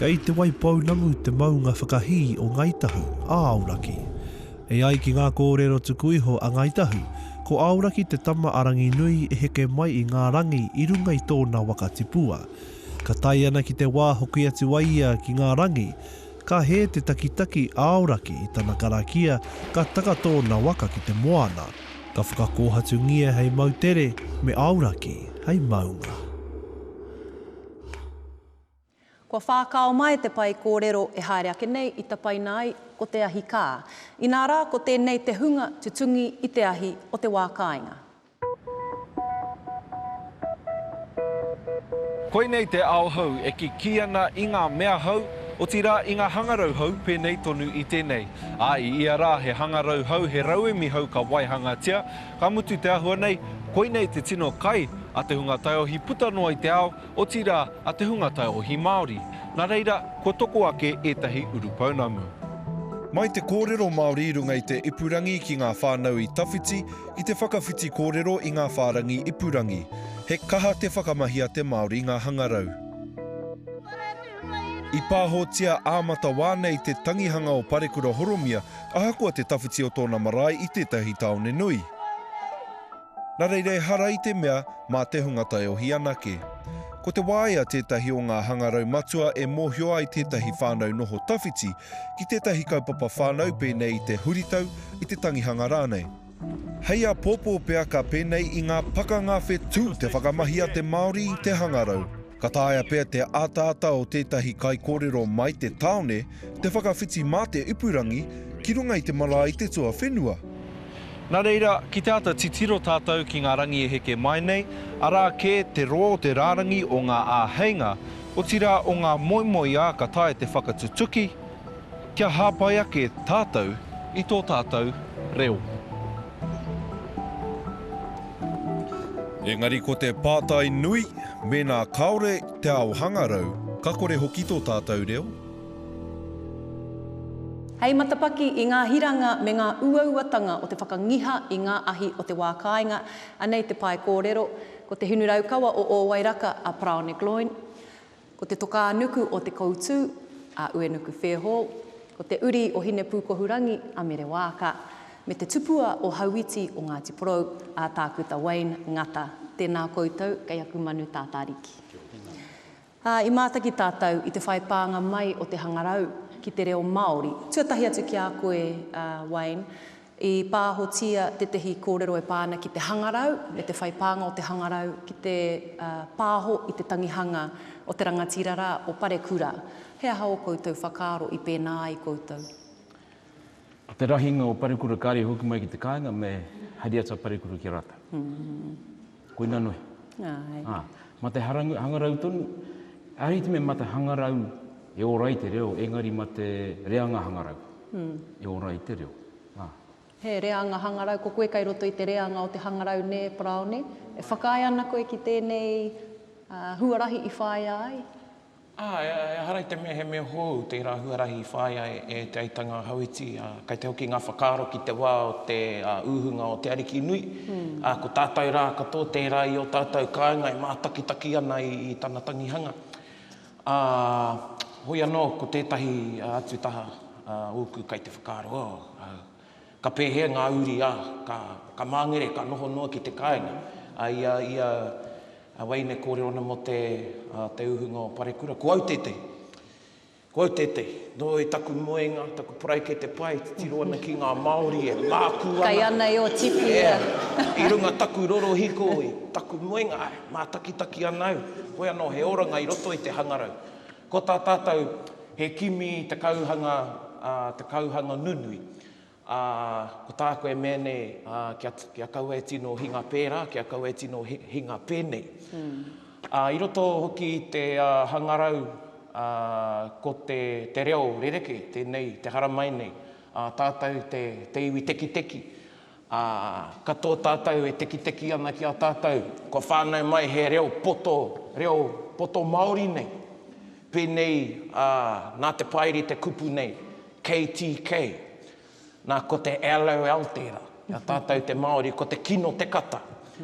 Kei Te Waipounamu te maunga whakahī o Ngāi Tahu, a Aoraki. E ai ki ngā kōrero tuku iho a Ngāi Tahu, ko Aoraki te tama a Ranginui e heke mai i ngā rangi i runga i tōna waka tipua. Ka tae ana ki te wā hoki atu a ia ki ngā rangi, ka hē te takitaki a Aoraki i tana karakia ka taka tōna waka ki te moana. Ka whakakōhatungia hei moutere me aoraki hei maunga. Kua whākao mai te pae kōrero e haere ake nei i tapaina ai ko te ahi kā. Inā rā ko tēnei te hunga tutungi i te ahi o te wā kāinga. Koinei te ao hou e kikī ana i ngā mea hou, otirā i ngā hangarau hou pēnei tonu i tēnei. Ā, i ia rā he hangarau hou, he rauemi hou ka waihangatia, ka mutu te āhua nei, koinei te tino kai a te hunga taiohi puta noa i te ao, otirā a te hunga taiohi Māori. Nā reira, kua toko ake ētahi urupounamu. Mai te kōrero Māori i runga i te ipurangi ki ngā whānau i tawhiti, I te whakawhiti kōrero i ngā whārangi ipurangi, he kaha te whakamahia te Māori ngā hangarau. I pāhotia ā-matawā nei te tangihanga o Parekura Horomia ahakoa te tawhiti o tōna marae i tētahi tāone nui. Nā reira ehara i te mea mā te hunga taiohi anake. Ko te waea tētahi o ngā hangarau matua e mōhio ai tētahi whānau noho tawhiti ki tētahi kaupapa whānau pēnei i te huritau, i te tangihanga rānei. Hei āpōpō pea ka pēnei i ngā pakanga whetū te whakamahi a te Māori i te hangarau. Ka taea pea te ataata o tētahi kaikōrero mai te tāone te whakawhiti mā te ipurangi ki runga i te marae i te tuawhenua. Nā reira, ki te āta titiro tātou ki ngā rangi e heke mai nei, arā kē te rō o te rārangi o ngā āheinga, Otirā o ngā moemoeā ka taea te whakatutuki kia hāpai ake tātou i tō tātou reo. Engari ko te pātai nui, mēnā kāore te ao hangarau, ka kore hoki tō tātou reo? Hei matapaki i ngā hiranga me ngā uauatanga o te whakangiha i ngā ahi o te wā kāinga, anei te pae kōrero, Ko te hinu raukawa o Ōwairaka a Paraone Gloyne, ko te tokā nuku o Te Koutū a Uenuku Fairhall, ko te uri o Hinepūkohurangi a Mere Waaka, me te tupua o Hauiti o Ngāti Porou a Tākuta Wayne Ngata, tēnā koutou kei aku manu tātāriki. Ā, i mātaki tātou i te whai pānga mai o te hangarau ki te reo Māori. Tuatahi atu ki a koe, a Wayne, i pāhotia tētehi kōrero e pā ana ki te hangarau me te whai pānga o te hangarau ki te pāho i te tangihanga o te rangatira rā, o Parekura. He aha ō koutou whakaaro i pēnā ai koutou? Ko te rahinga o Parekura kāre i hoki mai ki te kāinga me hariata Parekura ki a rātou. Koina nohi. Āe. Ma te hangarau tonu, āhiti me ma te hangarau e ora ai te reo, engari ma te reanga hangarau e ora ai te reo. He reanga hangarau, ko koe kai roto i te reanga o te hangarau nē, Paraone? E whakaae ana koe ki tēnei huarahi i whāia ai? Ā, ehara i te mea he mea hou tērā huarahi i whāia e Te Aitanga-a-Hauiti, ā, kei te hoki ngā whakaaro ki te wā o te uhunga o Te Arikinui, ā, ko tātou rā katoa tērā i ō tātou kāinga e mātakitaki ana i tana tangihanga. Ā, hoi anō ko tētahi atu taha ōku kei te whakaaro, oh, au. Ka pēhea ngā uri a ka, ka māngere, ka noho noa ki te kāinga? A i a, i a, a Waine kōrero ana mō te, a, te uhunga o Parekura, ko au tētehi. Ko au tētehi. Nō i taku moenga, taku paraikete pai, titiro ana ki ngā Māori e mākū ana. Kai ana e Otipi ia. Yeah. I runga taku rorohiko i taku moenga, āe, mātakitaki ana au. Koia nō he oranga i roto i te hangarau. Ko tā tātou, he kimi te kauhanga, ā, te kauhanga nunui. Ā, ko tāku e mea nei, ā, kia, kia kaua e tino hinga pērā, kia kaua e tino hinga pēnei. Ā, i roto hoki i te hangarau, ā, ko te, te reo rerekē tēnei, te haramai nei, ā, tātou te, te iwi tekiteki. Ā, ka tō tātou e tekiteki ana ki a tātou, kua whānau mai he reo poto, reo poto Māori nei. Pēnei ā, nā te Paeri te kupu nei, KTK. Nā, ko te LOL tērā. I a tātou te Māori, ko te kino te kata.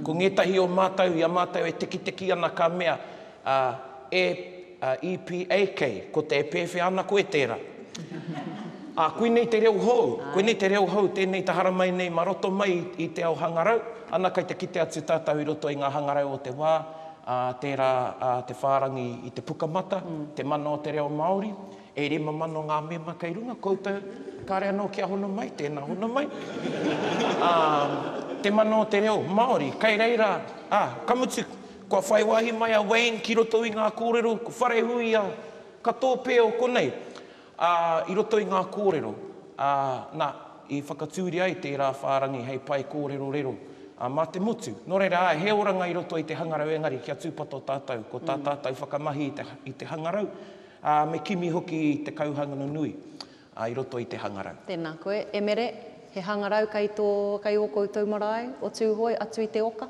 Ko ngētahi o mātou, i a mātou e tekiteki ana ka mea, ā, e, ā, EPA kei, ko te e pēwhea ana koe tērā. Ā, koinei te reo hou, koinei te reo hou tēnei te haramai nei mā roto mai i te ao hangarau, ana kei te kite atu tātou i roto i ngā hangarau o te wā, ā, tērā, ā, te whārangi i te pukamata, te mana o te reo Māori. E rima mano ngā mema kei runga koutou, kāre anō kia hono mai, tēnā hono mai. Ā, te mana o te reo Māori kei reira, ā, ka mutu, kua whai wāhi mai a Wayne ki roto i ngā kōrero, ko Wharehuia, ka tōpēo konei, ā, i roto i ngā kōrero, ā, nā, i whakatūria ai tērā whārangi hei pae kōrero rero, ā, mā te motu. Nō reira, āe, he oranga i roto i te hangarau engari kia tūpato tātou, ko tā tātou whakamahi i te, i te hangarau, Ā, me kimi hoki te kauhangano nui i roto i te hangarau. Tēnā koe, e Mere, he hangarau kei tō, kei ō koutou marae o Tūhoe atu i te oka.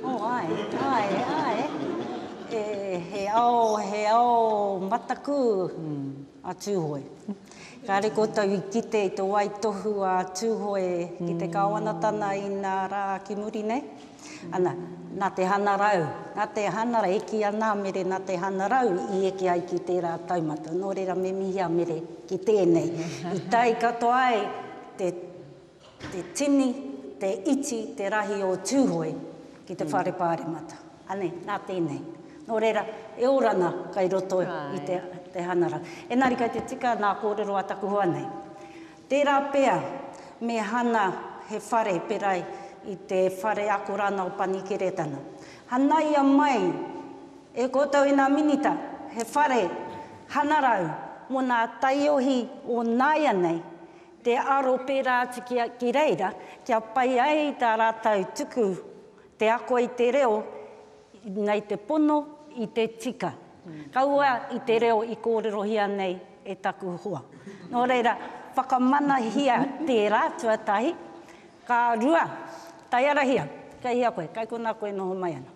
O, āe, āe, āe. E, he ao, he ao mataku a Tūhoe. Kāre koutou i kite i te waitohu a Tūhoe ki te Kāwanatana inā rā ki muri nei. Ana, nā te hangarau, nā te hangarau, e kī ana a Mere nā te hangarau i eke ai ki tērā taumata. Nō reira me mihi a Mere ki tēnei. I tae katoa ai te tini, te iti, te rahi o Tūhoe ki te Whare Pāremata. Anei, nā tēnei. Nō reira, e ora ana kei roto i te hangarau. Engari kei te tika nā kōrero a taku hoa nei. Tērā pea, me hana he whare pērā i te whare ako rānā o Panikeretana. Hanaia mai e koutou i ngā Minita he whare hanarau mō ngā taiohi o nāianei, te aro pērā atu ki reira kia pai ai tā rātou tuku te ako i te reo nei te pono i te tika. Kaua i te reo i kōrerohia nei e taku hoa. Nō reira, whakamanahia tērā tuatahi, ka rua, taiarahia, kei hea koe, kei konā koe noho mai ana.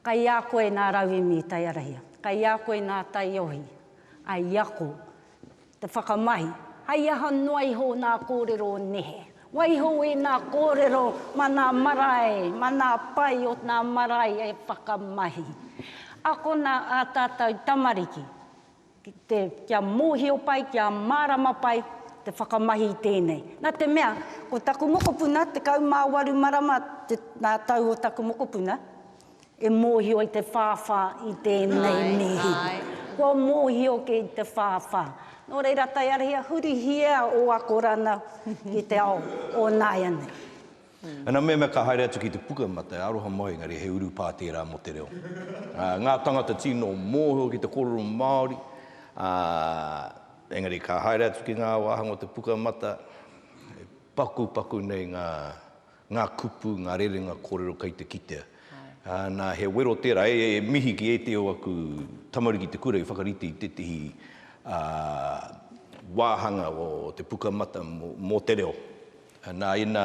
Kei a koe nā rauemi i taiarahia, kei a koe nā taiohi, a i ako. Te whakamahi, hei aha noa iho nā kōrero nehe? Waiho i nā kōrero ma nā marae, ma nā pae o nā marae e whakamahi. Akona ā tātou tamariki ki te, kia mōhio pai, kia mārama pai te whakamahi i tēnei. Nā te mea, ko taku mokopuna, 18 marama te, nā tau o taku mokopuna, E mōhio i te whāwhā i tēnei mihi. Kua mōhio ki te whāwhā. Nō reira, tae ara ia, hurihia ō akorana ki te ao o nāianei. Ana mea, mea ka haere atu ki te puka ma te aroha mai, engari he urupā tērā mō te reo. Ngā tangata tino mōhio ki te kōrero Māori, ā, engari ka haere atu ki ngā wāhanga o te puka mata, e pakupaku nei ngā ngā kupu, ngā rerenga kōrero kei te kitea. Nā, he wero tērā, e mihi ki ētehi o aku tamariki i te kura i whakarite i tētehi wāhanga o te Pukamata mō te Reo. Nā, ina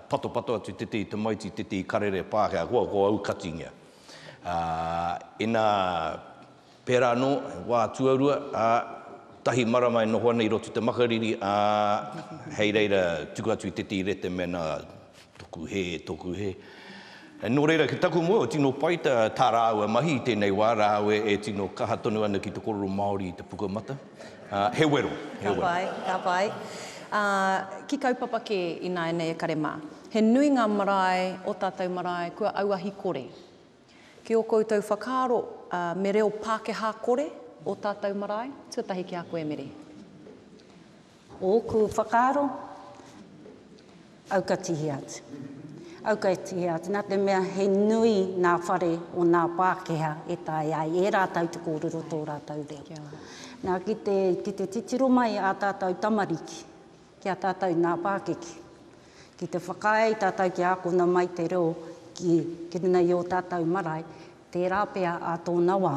patopato atu i tētehi tamaiti, tētehi karere Pākehā, kua aukatiingia. Ina Pērā anō, he wā tuarua, ā, tahi marama e noho ana i roto i te makariri, ā, hei reira tuku atu i te tīrete mēnā toku hē, toku hē. Nō reira, ki taku moe, tino pai tā, tā rāua mahi i tēnei wā, rāua e tino kaha tonu ana ki te korero Māori i te pukamata. Ā, he wero, he wero. Ka pai, ka pai. Ā, ki kaupapa kē ināianei e kare mā. He nui ngā marae, ō tātou marae, kua auahi kore. Ki ō koutou whakaaro, me reo Pākehā kore ō tātou marae? Tuatahi ki a koe, Meri. Ōku whakaaro, aukatihia atu. Aukatihia atu, nā te mea he nui ngā whare o ngā Pākehā e tae ai e rātou te kōrero tō rātou reo. Nā, ki te titiro mai ā tātou tamariki, Ki a tātou nā pākiki. Ki te whakaae i tātou kia ākona mai te reo ki ki runga i ō tātou marae, tērā pea ā tōna wā,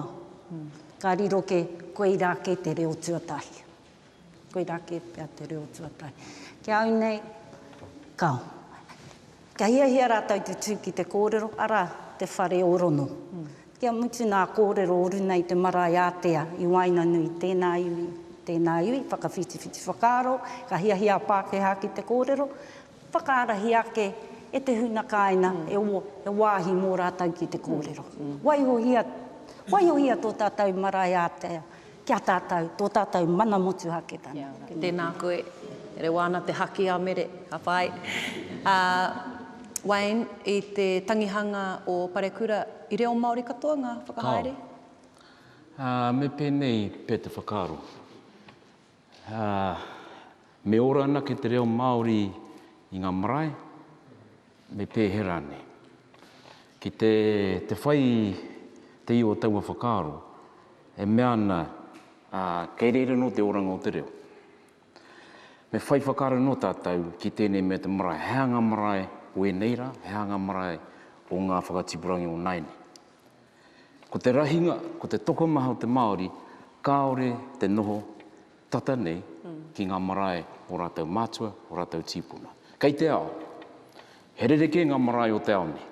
ka riro kē, koirā kē te reo tuatahi. Koirā kē pea te reo tuatahi. Ki a au nei, ka, ka hiahia rātou te tū ki te kōrero, arā, te whare ōrono. Kia mutu ngā kōrero oru nei te marae ātea i waenganui tēnā iwi, tēnā iwi, whakawhitiwhiti whakaaro, ka hiahia a Pākehā ki te kōrero, whakaarahi ake e te huna kāinga e e wāhi mō rātou ki te kōrero. Waihohia, waihohia tō tātou marae ātea. Ki a tātou, tō tātou mana motuhaketanga. Tēnā koe. Rewa ana te haki a Mere, ka pai. Ā, Wayne, i te tangihanga o Parekura, i reo Māori katoa ngā whakahaere? Kāo. Ā, me pēnei pea te whakaaro. Ā. Me ora anake te reo Māori i ngā marae, me pēhea rānei. Ki te, te whai te iwa o taua whakaaro, e mea ana, ā, kei reira anō te oranga o te reo. Me whai whakaaro anō tātou ki tēnei mea te marae, he aha ngā marae o ēnei rā, he aha ngā marae o ngā whakatipurangi o nāianei. Ko te rahinga, ko te tokomaha o te Māori, kāore te noho tata nei ki ngā marae o rātou mātua, o rātou tīpuna. Kei te ao, he rerekē ngā marae o te ao nei.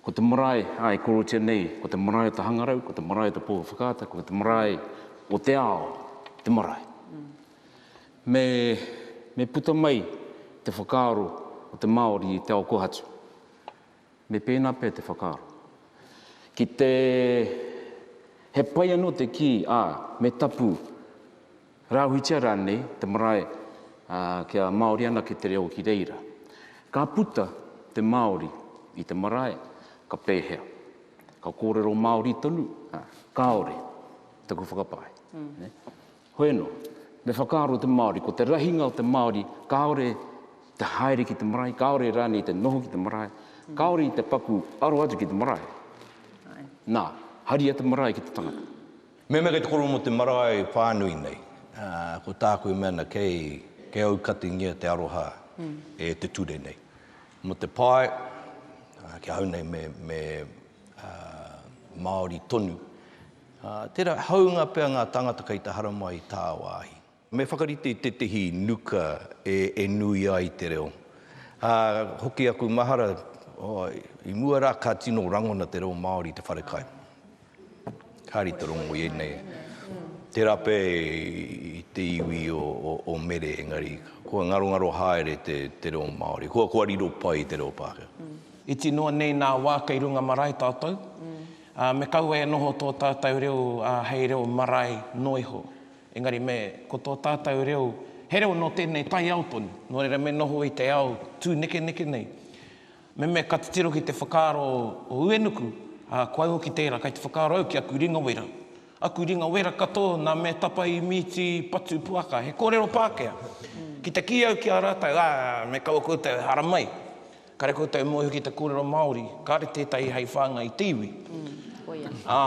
Ko te marae a e korotia nei, ko te marae o te hangarau, ko te marae o te pō whakaata, ko te marae o te ao, te marae. Me, me puta mai te whakaaro o te Māori i te ao kohatu. Me pēnā pea te whakaaro. Ki te He pai anō te kī, ā, me tapu, rāhuitia rānei te marae kia Māori anake te reo ki reira. Ka puta te Māori i te marae, ka pēhea? Ka kōrero Māori tonu? Kāore, taku whakapae. Hoeno, me whakaaro te Māori, ko te rahinga o te Māori, kāore te haere ki te marae, kāore rānei te noho ki te marae, kāore i te paku aro atu ki te marae. Nā, haria te marae ki te tangata. Mehemea kei te koro mō te marae whānui nei, ko tāku e mea ana, kei aukatingia te aroha e te ture nei. Mō te pae, ki ahau nei me Māori tonu, Ā, tērā hāunga pea ngā tāngata kei te haramai i tāwāhi. Me whakarite i tētehi nuka e, e nui ai te reo. Ā, hoki aku mahara, oi, i mua rā ka tino rangona te reo Māori i te wharekai. Kāre i te rongo i ēnei, tērā pea i te iwi o, o, o Mere, engari kua ngarongaro haere te, te reo Māori. Kua, kua riro pai te reo Pākehā. Iti noa nei nā wā kei runga marae tātou. Ā, me kaua e noho tō tātou reo hei reo marae noa iho. Engari me, ko tō tātou reo, he reo nō tēnei taiao tonu, nō reira me noho i te ao tūnekeneke nei. Me mea ka titiro ki te whakaaro o Uenuku, ā, ko au hoki tērā, kei te whakaaro au ki aku ringa wera. Aku ringa wera katoa nā mea tapa i Mīti Patu Puaka, he kōrero Pākehā. Ki te kī au ki a rātou, ā, me kaua koutou e haramai. Kare koutou e moeho ki te kōrero Māori, kāre tētahi hei whāngai i te iwi. Ā,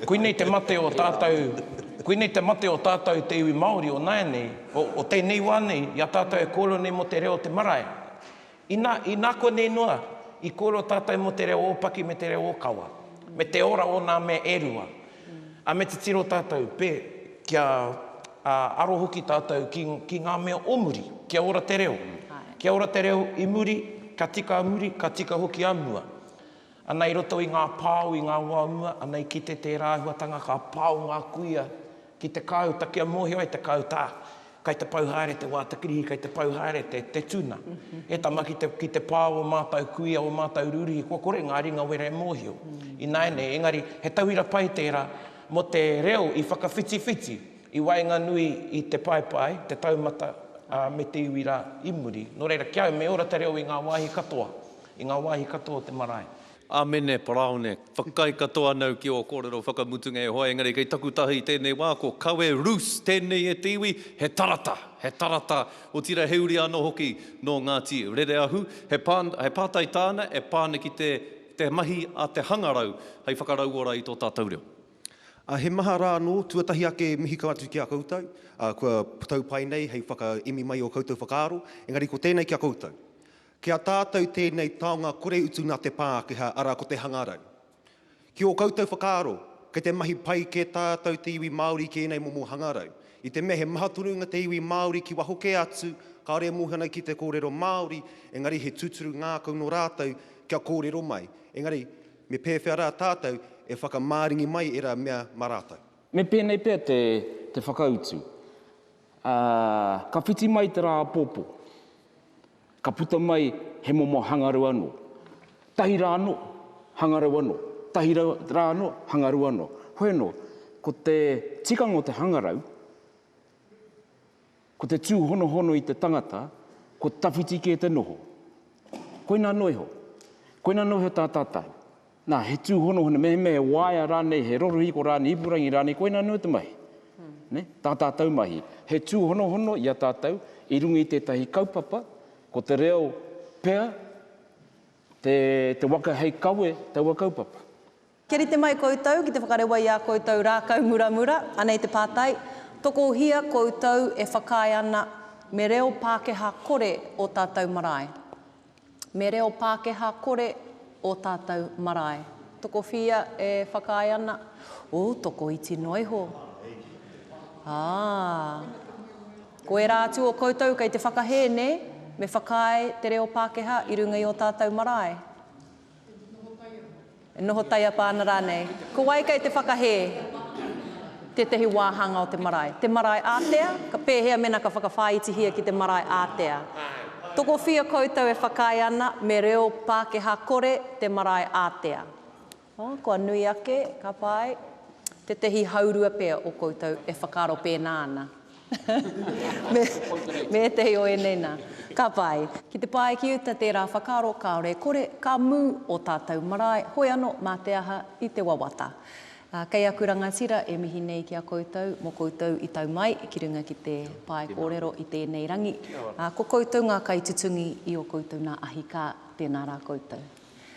koinei te mate o tātou, koinei te mate o tātou te iwi Māori o nāianei, o, o tēnei wā nei, i a tātou e kōrero nei mō te reo o te marae. Inā, inā konei noa, i kōrero tātou mō te reo ōpaki me te reo ōkawa, me te ora o nā mea e rua. Ā, me titiro tātou, pē, kia, ā, aro hoki tātou ki, ki ngā mea o muri. Kia ora te reo. Kia ora te reo i muri, ka tika a muri, ka tika hoki a mua. Ana i roto i ngā pao, i ngā wā o mua, ana i kite tērā āhuatanga ka pao ngā kuia ki te kāuta kia mōhio ai te kāuta, ā, Kai te pau haere te wā, te kirihi, kai te pau haere te, te tuna. He tama ki te, ki te pā o ō mātau kuia, ō mātau rūrihi, kua kore ngā ringa wera e mōhio. Ināianei, engari, he tauira pai tērā mō te reo i whakawhitiwhiti i waenganui i te paepae, te taumata, ā, me te iwi rā i muri. Nō reira, ki a au, me ora te reo i ngā wāhi katoa, i ngā wāhi katoa o te marae. Amene, Paraone, whakaae katoa anau ki ō kōrero whakamutunga e hoa, engari kei taku taha i tēnei wā, ko kawe rus tēnei e te iwi, he tarata, he tarata, otirā he uri anō hoki nō Ngāti Rereahu, he pā, he pātai tāna e pā ana ki te, te mahi a te hangarau hei whakarauora i tō tātou reo. Ā, he maha rā anō, tuatahi ake mihi kau atu ki a koutou, ā, kua tau pai nei hei whakaemi mai i ō koutou whakaaro, engari ko tēnei ki a koutou. Ki a tātou tēnei taonga kore utu nā te Pākehā, arā ko te hangarau. Ki ō koutou whakaaro, kei te mahi pai kē tātou te iwi Māori ki ēnei momo hangarau. I te mea he maha tonu ngā te iwi Māori ki waho kē atu, kāore e mōhio ana ki te kōrero Māori, engari he tūturu ngākau nō rātou kia kōrero mai. Engari, me pēwhea rā tātou e whakamaringi mai ērā mea mā rātou? Me pēnei pea te whakautu, ā, ka whiti mai te rā apopo. Ka puta mai he momo hangarau anō, tahi rā anō, hangarau anō, tahi rā anō, hangarau anō. Hoi anō, ko te tikanga o te hangarau, ko te tūhonohono i te tangata, ko te tawhiti kē te noho. Koina anō iho. Koina anō iho tā tātau. Nā, he tūhonohono, mehemea he waea rānei, he rorohiko rānei, ipurangi rānei, koina anō te mahi. Tā tātou mahi, he tūhonohono i a tātou i runga i tētahi kaupapa, ko te reo pea te waka hei kawe taua kaupapa. Kia rite mai koutou ki te whakarewa i ā koutou rākau muramura, anei te pātai, Tokohia koutou e whakaae ana me reo Pākehā kore ō tātou marae? Me reo Pākehā kore ō tātou marae. Tokowhia e whakaae ana, Ōu tokoiti noa iho. Ā. Ko ērā atu o koutou kei te whakahē, nē? Me whakaae te reo Pākehā i runga i ō tātou marae. E noho taiapa ana rānei? Ko wai kei te whakahē tētahi wāhanga o te marae? Te marae ātea? Ka pēhea mēnā ka whakawhāitihia ki te marae ātea? Tokowhia koutou e whakaae ana me reo Pākehā kore te marae ātea? Ā, kua nui ake, ka pai, tētahi haurua pea o koutou e whakaaro pēnā ana. Me ētehi o ēnei nā. Ka pai. Ki te pae ki uta tērā whakaaro kāore e kore, ka mū ō tātou marae, hoi anō mā te aha i te wawata. Kei aku rangatira e mihi nei ki a koutou mō koutou i tau mai ki runga ki te pae kōrero i tēnei rangi. Ko koutou ngā kaitutungi i ō koutou nā ahi kā, tēnā rā koutou.